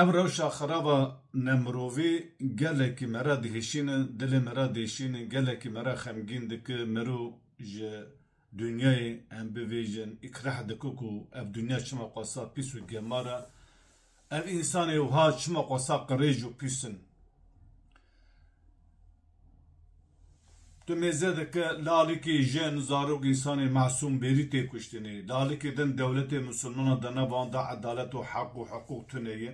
Ev rewşa xeraba nemirovî gelekî me re dihişîne, dilê me re dêşîne, gelekî me re xemgîn dike, mirov ji dinyayê em bivêjin, îkrah dike ku ev dinya çima qasa pîs û gemar e, ev însanê wiha çima qasa qirêj û pîs in. Tu mêze dike lalikî jin zarok însanê mesûm bêrî tê kuştinê. Lalikî din dewletê misûlmanan di nevan de edalet û heq û hiqûq tune ye.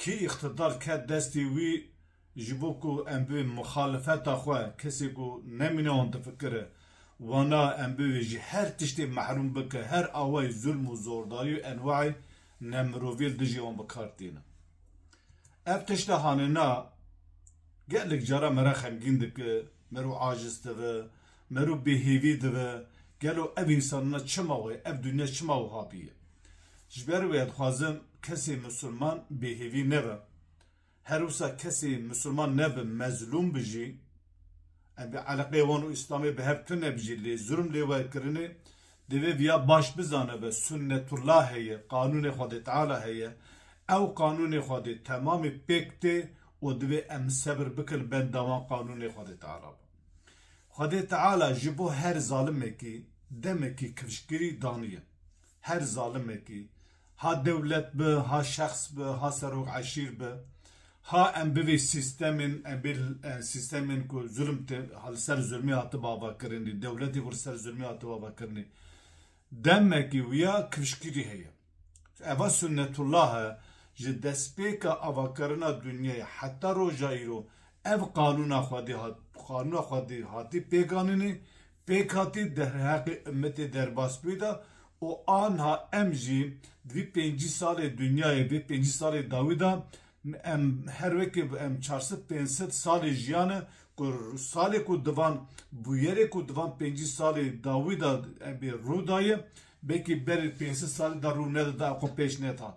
Kî îqtidar ket destê wî ji bo ku em bi mixalifeta xwe kesê ku nemîne wan difikire wana em bibe ji her tiştê mehrûm bike her awayî zulm û zordarî û enwayî nemirovî li dijî wan bi kar tîne. Ev tişta hanêna gelek cara me re xemgîn dike, me rû aciz dibe, me rû bêhêvî dibe, gelo ev însanina çima wê, ev dinya çima wiha bûye. Ji ber wê dixwazim kesê misilman bêhêvî nebe. Her wisa kesê misilman nebe mezlûm bi jî, em bê eleqeyê wan û îslamê bi hev tune bi jî lê zulm lê we kirinê, Divê viya baş bizanibe, Sunnetullah heye, qanûnê Xwedê Teala heye, ew qanûnê Xwedê temamê pêk tê û divê em sebir bikin benda wan qanûnê Xwedê Teala be. Xwedê Teala ji bo her zalimekî demekî kifşgirî daniye. Her zalimekî Ha dewlet bi, ha şexs bi, ha serok eşîr bi, ha em bivê sîstemên em bê sîstemên ku zulm tê li ser zulmê hati bavakirinê, dewletê ku li ser zulmê hati bavakirinê demekî wiya kifşkirî heye. Eva Sunnetullah e ji destpêka avakirina dinyayê heta roja îro ev qanûna xwedî hat qanûna xwedî hatî pêkanînê Pêkhatî derheqê umêtê derbasbûyî de û anha em jî di vî pêncî salê dinyayê, vê pêncî salê dawî de em her wekî em çar sed pênc sed salê jiyane ku salê ku di van bûyerê ku di van pêncî salê dawî de ebê rû daye belkî berê pênc sed salî de rû neda da xwe pêş nedat.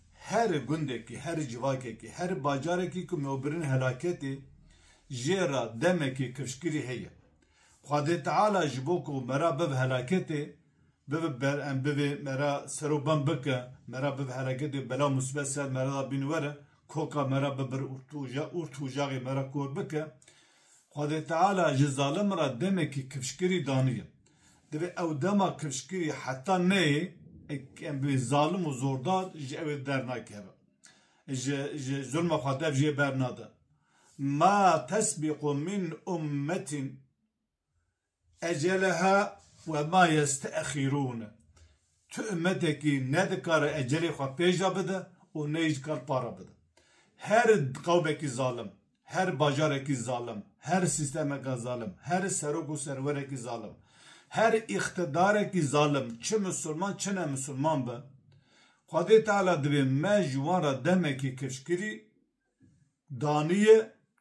Her gundekî, her civakekî, her bacarekî ku mewbirîn helaketê jê re demekî kifşkirî heye. Xwedê Teala ji bo ku me re biv helaketê biv ber em bivê me re ser û bem bike, me re biv helaketê bela û musîbet ser me re de bîn were, koka me re bibir û tûja û tûjaxê me re kor bike. Xwedê Teala ji zalim re demekî kifşkirî daniye. Divê ew dema kifşkirî heta neyê eke zalim û zordar ji ewê dernakeve. Ji ji zulma xwe dev jê bernade. Ma tesbîqu min ummetîn Eceleha ve ma yeste'xîrûn, tu ummetekî ne dikare ecelê xwe pêşda bide û ne jî dikare para bide. Her qewmekî zalim, her bajarekî zalim, her sîstemeke zalim, her serok û serwerekî zalim, her îqtidarekî zalim çi misilman çi ne misilman be, Xwedê Teala divê me ji wan re demekî kifşkirî daniye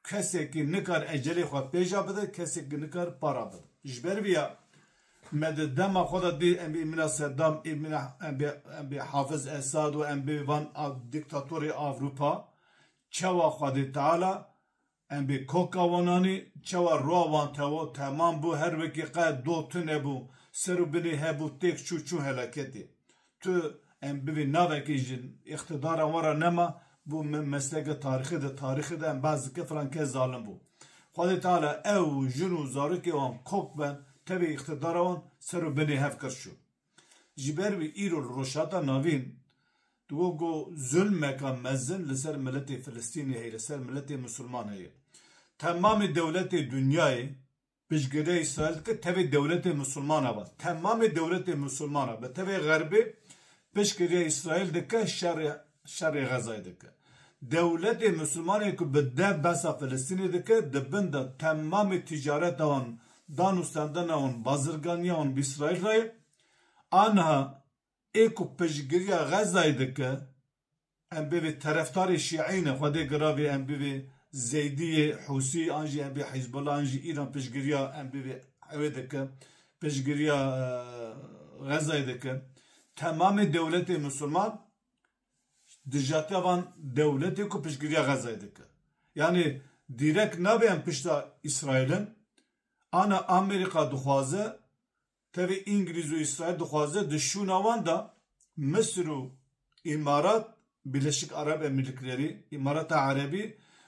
kesekî nikar ecelê xwe pêja bide kesekî nikar para bide. Ji ber vê ya me di dema xwe de dî em bê mîna Sedam ê mîna em bê em bê Hafiz Esad û em bê van dîktatorê Avrupa çawa Xwedê Teala em bê koka wananî çawa roa wan tewo temam bû her wekî qe do tune bû ser û binê hebû têk çû çû helaketê. Tu em bivê navekê ji îqtidara wan re nema, bû mesleke tarîxê de, tarîxê de em behs dikin filan kes zalim bû. Xwedê Teala ew û jin û zarokê wan kok be tevî îqtidara wan ser û binê hev qir çû. Ji ber wî îro li Rojhilata Navîn digot ku zulmeka mezin li ser miletê Filistînê heye, li ser miletê Misliman heye. Temamê dewletê dinyayê Piştgirê Îsraîl dike tevê dewletê misilmana be. Temamê dewletê misilmana be tevê Xerbê piştgirîya Îsraîl dike şerê şerê Xezayê dike. Dewletê misilmanê ku bi dev behsa Filistînê dike di bin de temamê tîcareta wan, dan û sendena wan, bazirganîya wan bi Îsraîl re ye. Aniha ê ku piştgirîya Xezayê dike Em bivê terefdarê şîeyî ne, xwedê giravê em bivê zeydîyê, hûsî an jî em bê hîzbullah an jî îran piştgirîya em bivê ewê dike, piştgirîya xezayê dike. Temamê dewletê misilman dijatiya van dewletê ku piştgirîya xezayê dike. Yanî dîrek nabê em pişta îsraîl in, ana amerîka dixwaze Tevî Îngilîz û Îsraîl dixwaze di şûna wan de Misir û Îmarat, Birleşik Arab Emirlikleri, Îmarata Erebî,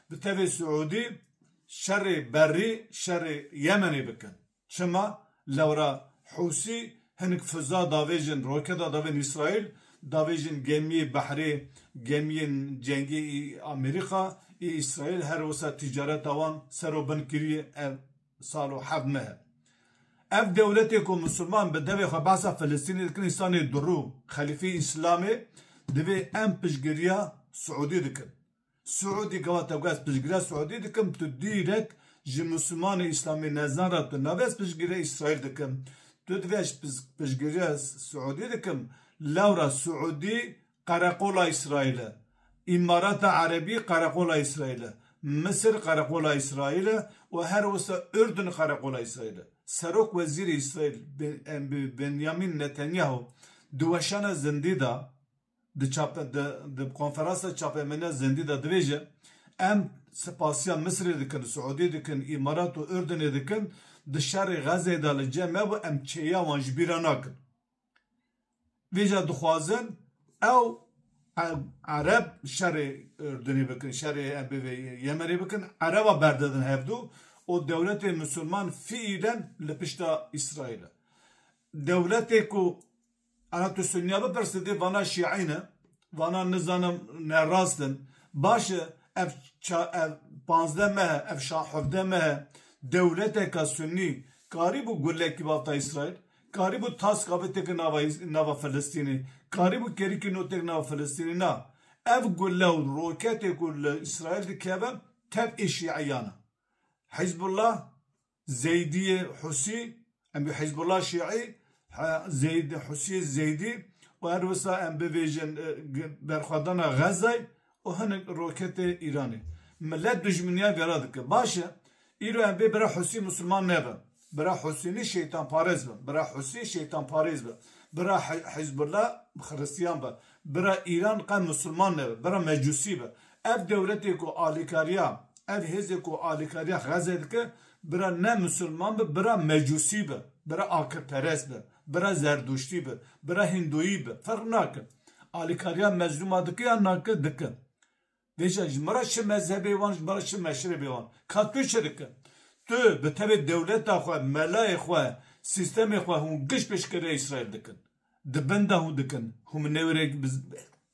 bi tevê Siûdî şerê berrî şerê Yemenê bikin. Çima? Lewra Hûsî hinik fiza davêjin, roketa davên Îsraîl, davêjin gemiyê behrê, gemiyên cengê î Amerîka, î Îsraîl her wisa tîcareta wan ser û bin kiriye. Ev. sal û heft meh e. Ev dewletê ku Misliman bi devê xwe behsa Filistînê dikin însanê dirû, xelîfeyê Îslamê divê em piştgiriya Siûdî dikin. Siûdî gava te got ez piştgiriya Siûdî dikim tu dîrek ji Mislimanê Îslamê nezan re tu nabê ez piştgiriya Îsraîl dikim. Tu divê ez piştgiriya Siûdî dikim lewra Siûdî Qereqola Îsraîl e. Îmarata Erebî qereqola Îsraîl e. Misir qereqola Îsraîl e û her wisa Urdun qereqola Îsraîl e. Serok Wezîrê Îsraîl Benyamîn Netanyahu di weşana zindî de di konferansa çapemeniya zindî de dibêje, Em spasiya Misirê dikin, Siûdiyê dikin, Îmarat û Urdunê dikin, di şerê Xezeyê de li cem hebûn, em çêya wan ji bîr re nakin. Vêca dixwazin ew ereb şerê Urdunê bikin, şerê bivê Yemenê bikin, ereba berdidin hevdu û dewletê Musulman fiilen li pişta Îsraîl e. Dewletê ku ana tu Sunniya bipirse dê vana Şiî ne, vana nizanim nerast in. Baş e ev ev panzdeh mehe, ev şax hevdeh mehe dewleteke Sunnî karîbû gulekî bafta Îsraîl? Karîbû taska bi têke nava Filistînê, karîbû kerîkê no têk nava Filistînê. Na, ev gule û roketê ku li Îsraîl dikeve tev ê şîeyan e. Hîzbullah, Zeydîyê Husî, em bê Hîzbullah Şîî, Husîyê Zeydî û her wisa em bivêjin berxwedana Xezzayê û hinek roketê Îranê. Milet dujminiya vera dike. Baş e, îro em vê bira Husî musulman nebe. Bira Husî ne şeytanparez be. Bira Husî şeytanparêz be. Bira Hizbullah xiristiyan be. Bira Îran qet musulman nebe. Bira Mecusî be. Ev dewletê ku alîkariya, ev hêzê ku alîkariya Xezê dike, bira ne musulman be, bira Mecusî be. Bira akilperest be. Bira zerdûştî bi, bira hîndoyî bi ferq nake. Alîkariya mezlûma dike yan nake? Dike. Dê jî ji min re çi mezhebê wan, ji min re çi meşrebê wan. Ka tu çi dike? Tu bi tevê dewleta xwe, melayê xwe, sîstemê xwe hûn giş pêşkeriya Îsraîl dikin. Di bin de hûn dikin. Hûn bi newêrek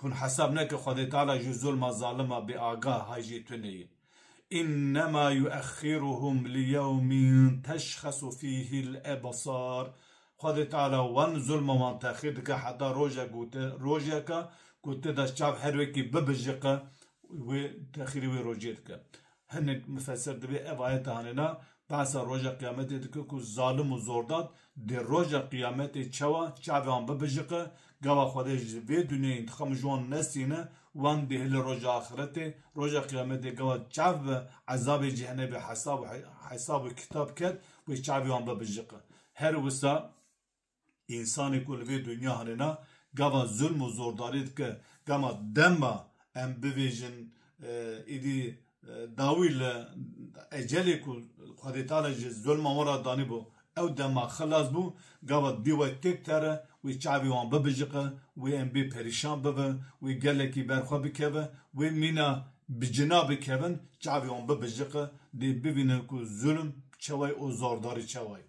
Hûn hesab neke Xwedê Teala ji zulma zalima bêagah hay jê tune ye. Înnema yuexxîruhum li yewmîn teşxesu fîhî l-ebsar. Xwedê Teala wan zulma wan texîr dike heta roje ku te rojeke ku tê de çav her wekî bibijiqe wê texîrê wê rojê dike. Hinek mifesir divê ev ayete anê na, behsa roja qiyametê dike ku zalim û zordad dê roja qiyametê çawa çavê wan bibijiqe, gava Xwedê ji vê dunyayê întiqam ji wan nesîne, wan dê hilê roja axiretê, roja qiyametê gava çav bi ezabê cehenebê hesab û hesab û kitab ket wê çavê wan bibijiqe. Her wisa. Însanê ku li vê dinya herêna gava zulm û zordarî dike, gama dema em bivêjin êdî dawî li ecelê ku Xwedê Teala ji zulma wan re danîbû ew dema xilas bû, gava divê we têk tere, wê çavê wan bibijiqe, wê em bê perîşan bibin, wê gelekî ber xwe bikeve, wê mîna bi cina bikevin, çavê wan bibijiqe, dê bivînin ku zulm çawa ye û zordarî çawa ye.